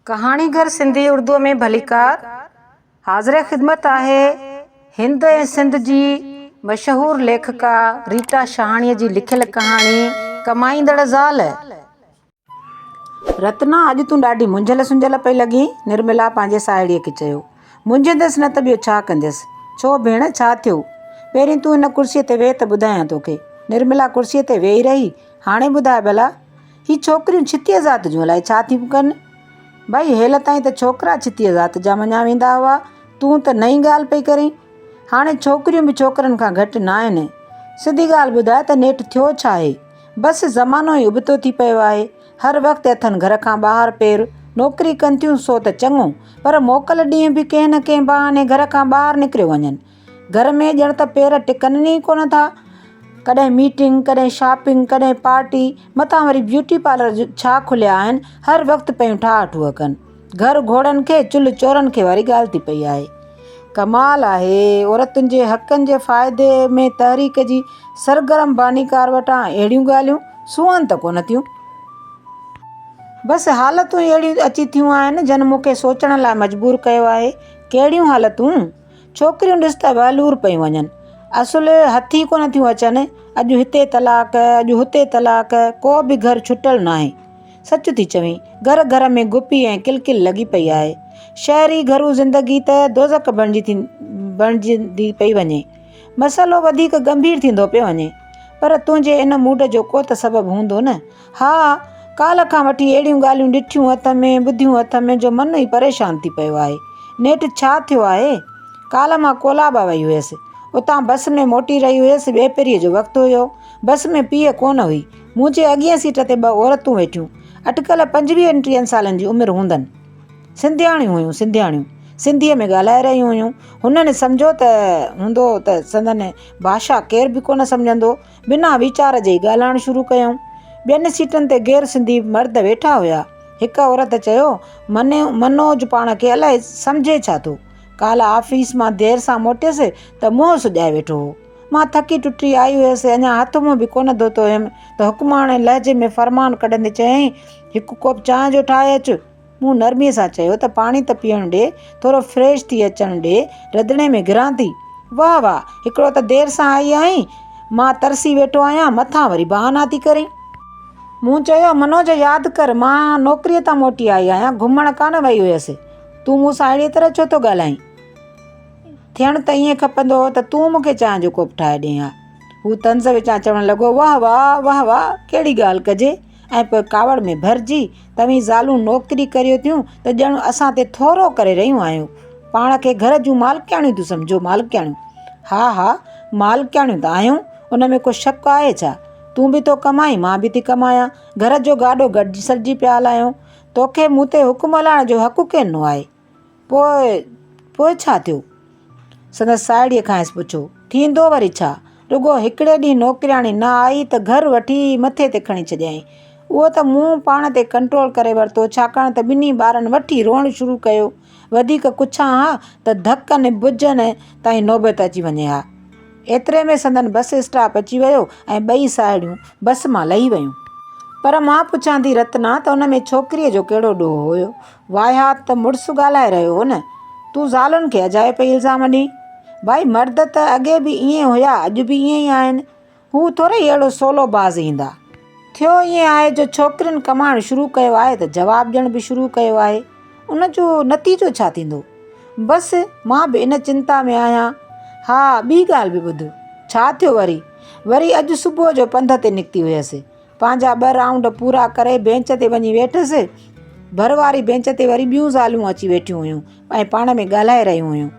ڪهاڻيگر سنڌي اردوء ۾ ڀليڪار حاضر خدمت آهي. هند ۽ سنڌ جي مشهور ليکڪا ريٽا شهاڻيء جي لکيل ڪهاڻي ڪمائيندڙ زال. رتنا اڄ تون ڏاڍي منجهيل سنجهيل پئي لڳين. نرملا پنهنجي ساهيڙيء کي چيو. منجهيندس نه ته ٻيو ڇا ڪنديس. ڇو ڀيڻ ڇا ٿيو؟ پهرين تون هن ڪرسيء تي ويهه ته ٻڌايان توکي. نرملا ڪرسيء تي ويهي رهي. هاڻي ٻڌاء ڀلا. هي ڇوڪريون ڇتيء ذات جون الائي ڇا ٿيون ڪن. ڀئي هيل تائين ته ڇوڪرا ڇتيء ذات جا مڃيا ويندا هئا، تون ته نئين ڳالهه پئي ڪرين. هاڻي ڇوڪريون به ڇوڪرن کان گهٽ ناهن. سڌي ڳالهه ٻڌاء ته نيٺ ٿيو ڇا آهي؟ بس زمانو ئي ابتو ٿي پيو آهي. هر وقت اٿن گهر کان ٻاهر پير نوڪري ڪن ٿيون سو ته چڱو، پر موڪل ڏينهن به ڪنهن نه ڪنهن بهاني گهر کان ٻاهر نڪريو وڃن. گهر ۾ ڄڻ ته پير ٽڪن ئي ڪونه ٿا. ڪڏهن ميٽنگ، ڪڏهن شاپنگ، ڪڏهن پارٽي، مٿان وري بيوٽي پارلر ڇا کليا آهن، هر وقت پيون ٺاهه ٺوهه ڪن. گهر گهوڙن کي، چلهه چورن کي واري ڳالهه ٿي پئي آهي. ڪمال آهي، عورتن جي حقن جي فائدي ۾ تحريڪ جي سرگرم بانيڪار وٽان اهڙيون ڳالهيون سونهن ته ڪونه ٿيون. بس حالتون ئي اهڙيون اچي ٿيون آهن، جن مون کي سوچڻ لاء مجبور ڪيو آهي. ڪهڙيون حالتون؟ ڇوڪريون ڏس ته وهلور پيون وڃن. اصل هٿ ئي ڪونه ٿيون اچن. اڄ هتي طلاق، اڄ هتي طلاق، ڪو به گهر ڇٽل ناهي. سچ ٿي چوين، گهر گهر ۾ گپي ۽ ڪل ڪل لڳي پئي آهي. شهري گهرو زندگي ته دوزخ بڻجي ٿي بڻجندي پئي وڃي. مسئلو وڌيڪ ڳنڀير ٿيندو پيو وڃي. پر تنهنجي ان موڊ جو ڪو ته سبب هوندو نه. ها! ڪالهه کان وٺي اهڙيون ڳالهيون ڏٺيون هٿ ۾ ٻڌيون هٿ ۾ جو من ئي پريشان ٿي پيو آهي. نيٺ ڇا ٿيو آهي؟ ڪالهه مان ڪولابا وئي هيس. اتان بس ۾ موٽي رهي هيس، ٻيپهريء جو وقت هيو. بس ۾ پيء ڪونه هئي. منهنجي اڳين سيٽ تي ٻه عورتون ويٺيون. اٽڪل پنجويهن ٽيهن سالن جي عمر هوندن. سنڌياڻيون هيون، سنڌياڻيون. سنڌيء ۾ ڳالهائي رهيون هيون. هنن سمجهيو ته هوندو ته سندن ڀاشا ڪير به ڪونه سمجهندو. بنا ويچار جي ئي ڳالهائڻ شروع ڪيائون. ٻين سيٽن تي غير سنڌي مرد ويٺا هيا. هڪ عورت چيو، منوج پاڻ کي الائي سمجهي ڇا ٿو. ڪالهه آفيس مان دير سان موٽيس ته منهن سڄائي ويٺو هو. مان ٿڪي ٽٽي آئي هيس، اڃا هٿ منهن به ڪونه ڌوتو هيم ته حڪماڻي لهجي ۾ فرمان ڪڍندي چيائين، هڪ ڪوپ چانهه جو ٺاهي اچ. مون نرميء سان چيو ته پاڻي ته پيئڻ ڏي، ٿورو فريش ٿي اچڻ ڏي، رڌڻي ۾ گهران ٿي. واهه واهه، هڪڙو ته دير سان آئي آهين، مان ترسي ويٺو آهيان، مٿان وري بهانا ٿي ڪرين. مون چيو، منوج ياد ڪر، مان نوڪريء تان موٽي آئي آهيان، گهمڻ ڪانه وئي هيس. تون مون سان اهڙيء طرح ڇو ٿو ڳالهائين؟ ٿيڻ ته ائين کپندو هو ته تون مون کي چانهه جو ڪوپ ٺاهي ڏئين ها. هو طنز وچان چوڻ لڳو، واهه واهه، واهه واهه، ڪهڙي ڳالهه ڪجي. ۽ پوء ڪاوڙ ۾ ڀرجي توهين زالون نوڪري ڪريو ٿيون ته ڄڻ اسان تي ٿورو ڪري رهيون آهيون. پاڻ کي گهر جون مالڪياڻيون ٿيون سمجهو، مالڪياڻيون! ها ها مالڪياڻيون ته آهيون، ان ۾ ڪو شڪ آهي ڇا؟ تون به ٿو ڪمائين، مان به ٿي ڪمايان، گهر جو گاڏو گڏجي سڏجي پيا هلايون. توکي مون تي حڪم هلائڻ جو حق ڪين ڏنو آهي. پوء پوء ڇا ٿيو؟ سندس ساهيڙيء کانئس پڇيو. ٿيندو وري ڇا؟ رڳو هڪڙي ڏينهن نوڪرياڻي نه آئي ته گهر وٺي مٿي تي کڻي ڇڏيائين. اهو ته مون پاڻ تي ڪنٽرول ڪري ورتو، ڇاڪاڻ ته ٻنهي ٻارن وٺي روئڻ شروع ڪيو. وڌيڪ ڪڇان ها ته ڌڪن ٻجهن تائين نوبت اچي وڃي ها. ايتري ۾ سندن بس اسٽاپ اچي ويو ۽ ٻئي ساهيڙيون بس مان لهي ويون. پر مان پڇان ٿي رتنا ته ان ۾ ڇوڪريء جو ڪهڙو ڏوهه هيو؟ واهيا ته مڙس ڳالهائي رهيو هو نه. تون زالن کي اجائي پئي الزام ڏئين. ڀائي مرد ته اڳي به ائين هيا اڄ به ائين ئي آهن. هو ٿورئي اهڙو سولو باز ايندا. ٿيو ائين آهي جو ڇوڪرين ڪمائڻ شروع ڪيو آهي ته جواب ڏيڻ به شروع ڪيو آهي. ان جو نتيجو ڇا ٿيندو؟ بس مان به ان چنتا ۾ آهيان. ها ٻي ڳالهه به ٻڌ. ڇا ٿيو وري؟ وري اڄ صبح جو پنڌ تي نڪتي هيس. پنهنجا ٻه رائونڊ پورا ڪري بينچ تي وڃي ويٺس. ڀر واري بينچ تي وري ٻيون زالون اچي ويٺيون هيون ۽ پاڻ ۾ ڳالهائي رهيون هيون.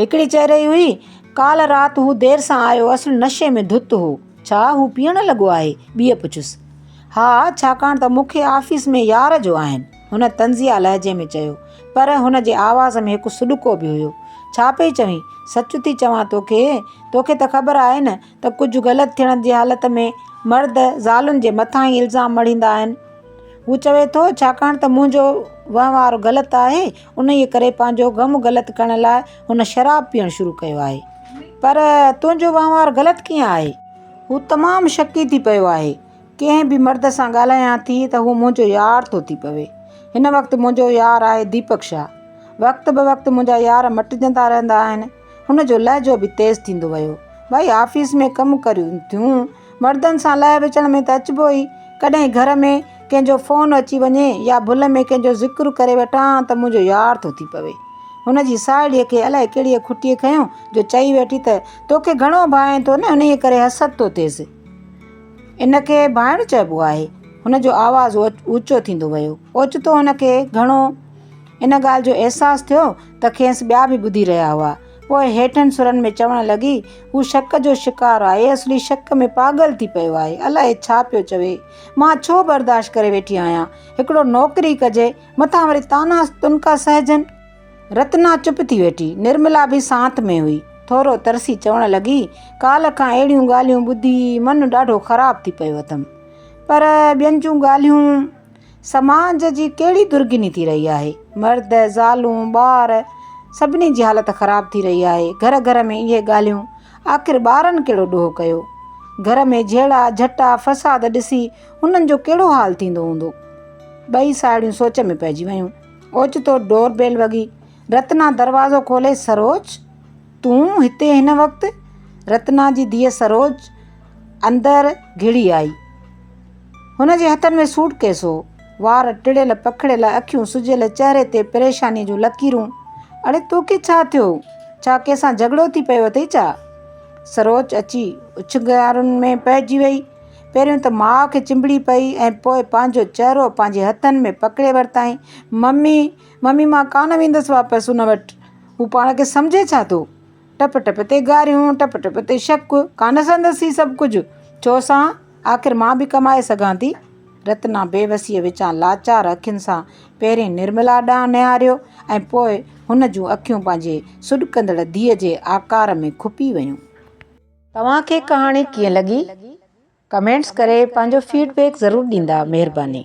هڪڙي چئي رهي هئي، ڪالهه رات هو دير سان آيو، اصل نشي ۾ ڌت هو. ڇا هو پيئڻ لڳو آهي؟ ٻيء پڇيس. ها، ڇاڪاڻ ته مون کي آفيس ۾ يار جو آهن. هن طنزيه لهجي ۾ چيو. پر هن جي آواز ۾ هڪ سڏڪو به هيو. ڇا پئي چوين؟ سچ ٿي چوان توکي. توکي ته خبر آهي نه ته ڪجهه غلط ٿيڻ جي حالت ۾ مرد زالن جي مٿان ئي الزام مڙهيندا آهن. هو چوي ٿو، ڇاڪاڻ ته منهنجو وهنوار غلط آهي، انهيء ڪري پنهنجو غم غلط ڪرڻ لاء هن شراب پيئڻ شروع ڪيو آهي. پر تنهنجو وهنوار غلط ڪيئن آهي؟ هو تمام شڪي ٿي پيو آهي. ڪنهن به مرد سان ڳالهايان ٿي ته هو منهنجو يار ٿو ٿي پوي. هن وقت منهنجو يار آهي ديپڪ شاهه. وقت بوقت منهنجا يار مٽجندا رهندا آهن. هن جو لهجو به تيز ٿيندو ويو. ڀائي آفيس ۾ ڪم ڪريون ٿيون، مردن سان لهه وچڙ ۾ ته اچبو ئي، ڪڏهن گهر ۾ ڪنهن جو فون اچي وڃي يا ڀل ۾ ڪنهن جو ذڪر ڪري وٺان ته منهنجو يار ٿو ٿي پوي. هن جي ساهيڙيء کي الائي ڪهڙيء کٽيء کنيو جو چئي ويٺي ته توکي گهڻو ڀانئين ٿو نه انهيء ڪري حسد ٿو ٿئيس. ان کي ڀانئڻ چئبو آهي. هن جو آواز اوچو ٿيندو ويو. اوچتو هن کي گهڻو ان ڳالهه جو احساس ٿيو ته کيس ٻيا به ٻڌي رهيا هئا. پوء هيٺن سرن ۾ چوڻ لڳي، هو شڪ جو شڪار آهي، اصلي شڪ ۾ پاڳل ٿي پيو آهي، الائي ڇا پيو چوي. مان ڇو برداشت ڪري ويٺي آهيان. هڪڙو نوڪري ڪجي، مٿان وري طعنا تنڪا سهجن. رتنا چپ ٿي ويٺي. نرملا به سانت ۾ هئي. ٿورو ترسي چوڻ لڳي، ڪالهه کان اهڙيون ڳالهيون ٻڌي من ڏاڍو خراب ٿي پيو اٿم. پر ٻين جون ڳالهيون. سماج جي ڪهڙي درگهني ٿي رهي آهي. مرد، زالون، ٻار سڀني جي حالت خراب ٿي رهي آهي. گهر گهر ۾ اهي ڳالهيون. آخر ٻارن ڪهڙو ڏوهه ڪيو. گهر ۾ جهيڙا، جهٽا، فساد ڏسي هنن جو ڪهڙو حال ٿيندو هوندو. ٻئي ساهيڙيون سوچ ۾ پئجي ويون. اوچتو ڊور بيل وڳي. رتنا دروازو کولي سروچ! تون هتي هن وقت؟ رتنا جي ڌيء سروج اندر گهڙي آئي. هن جي هٿن ۾ سوٽ ڪيس هو. وار ٽڙيل پکڙيل اکيون سجيل چهري تي پريشاني جون لڪيرون. اڙي توکي ڇا ٿيو؟ ڇا ڪنهن سان جهڳڙو ٿي پيو اٿئي ڇا؟ سروج اچي اڇنگارن ۾ پئجي وئي. پهريون ته ماء کي چنبڙي پئي ۽ پوء پنهنجو چهرو پنهنجي هٿن ۾ پڪڙي ورتائين. ممي! ممي مان ڪانه ويندس واپس ان وٽ. هو پاڻ کي سمجهي ڇا ٿو؟ ٽپ ٽپ تي گاريون، ٽپ ٽپ تي شڪ، ڪانه سندس هي سڀ ڪجهه؟ ڇو سان؟ آخر مان به ڪمائي سگهان ٿي. رتنا بيوسيء وچان لاچار اکين سان پهرين نرملا ڏانهن نهاريو ۽ پوء هن جون اکيون پنهنجي سڏڪندڙ ڌيء جي آڪار ۾ کپي ويون. توهان کي ڪهاڻي ڪيئن لڳي؟ ڪمينٽس ڪري پنهنجو فيڊ بيڪ ضرور ڏيندا. مهرباني.